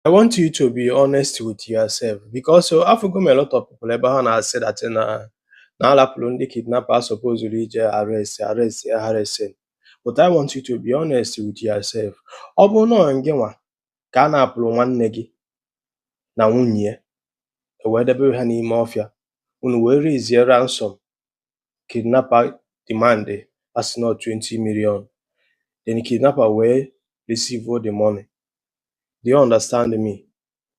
I want you to be honest with yourself because afụgo m a lot of people ebe ha na-asị that na na alapụrụ ndị kidnapper a supposuru ije arrest arrest Harrison but I want you to be honest with yourself ọ bụrụ na ọ gị nwa ka a napụrụ nwanne gị na nwunye ya ewee debe ha n'ime ọfịa unu wee raisie ransom kidnapper demand a sị na ọ 20 million then the kidnapper wee receive all the money do you understand me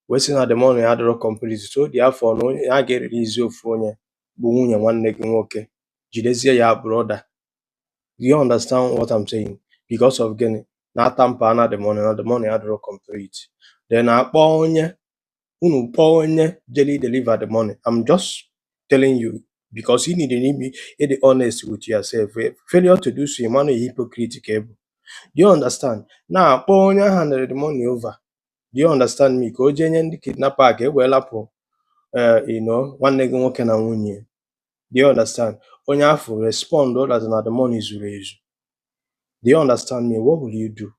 wee sị na the money adịrọ complete so therefore na onye a ga-erelizi ofu onye bụ nwunye nwanne gị nwoke jidezie your brother do you understand what I'm saying because of gịnị na a tamper na the money na the money adịrọ complete then akpọ onye unu kpọọ onye jeli deliver the money i'm just telling you because you need ime ịdị honest with yourself Eh, failure to do so ị ma na hypocrite ka ị bụ do you understand na-akpọ onye a handịrị the money over do you understand me ka o jee nye ndị kidnapper a ka e wee lapụ eh, you know, nwanne gị nwoke na nwunye do you understand onye afụ respond that na the money zuru ezu do you understand me what will you do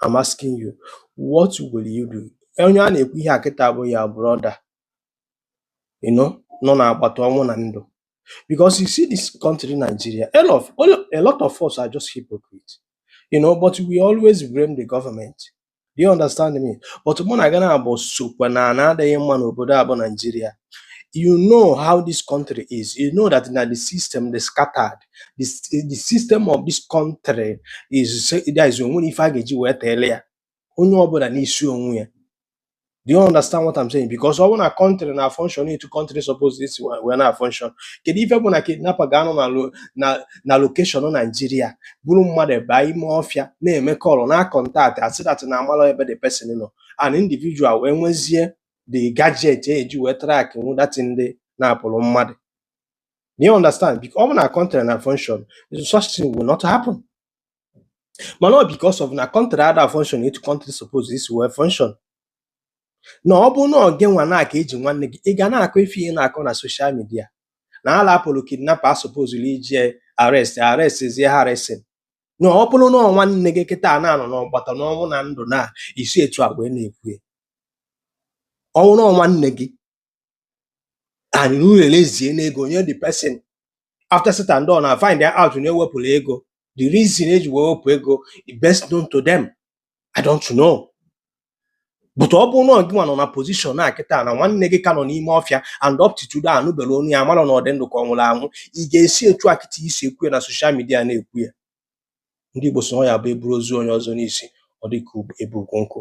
I'm asking you, what will you do? Onye a na-ekwu ihe a kịta bụ your brother you know, nọ n'agbata ọnwụ na ndụ because you see this country Nigeria a lot, of, a lot of us are just hypocrites you know but we always blame the government Do you understand me? But mụ na gị naabọ sokwa na na adịghị mma n'obodo a bụ Nigeria. You know how this country is. You know that na the system dị scattered. The, the system of this country is there is o nwerọ ife a ga-eji wee teele ya. Onye ọbụna n'isi onwe ya. Do you understand what I'm saying? Because ọ bụ na country na function etu country suppose isi wee na function. Kedu ife bụ na kidnapper ga-anọ na lo- na na location Nigeria buru mmadụ baa ime ọfịa na-eme call na contact asị that na amarọ ebe the person nọ an individual wee nwezie the gadget eji wee track nwu that ndị napụrụ mmadụ. Do you understand? Because ọ bụ na country na function such thing will not happen. mana ọ because of na country ada function etu country suppose isi wee function na ọ bụ na ọ gị nwa na aka eji nwanne gị ị ga na-akọ ife ị na-akọ na social media na a lapụrụ kidnapper a supposuru ije arrest arrestzie Harrison na ọ bụrụ na ọ nwanne gị kịta a na-anọ n'ọgbata n'ọnwụ na ndụ na ị si etu a wee na-ekwu ya ọ bụ na ọ nwanne gị and unu release n'ego nye the person after said and done and find out na ewepụrụ ego the reason eji wee wepụ ego is best known to them i don't know but ọ bụrụ na ọ gịnwa nọ na position a kịta na nwanne gị ka nọ n'ime ọfịa and up to today anụberọ onu ya mara na ọ dị ndụ ka ọ nwụrụ anwụ ị ga-esi etu a kịta i si ekwu ya na social media na-ekwu ya ndị Igbo sị na ọ ya bụ eburu ozu onye ọzọ n'isi ọ dị ka ebu ukwu nkụ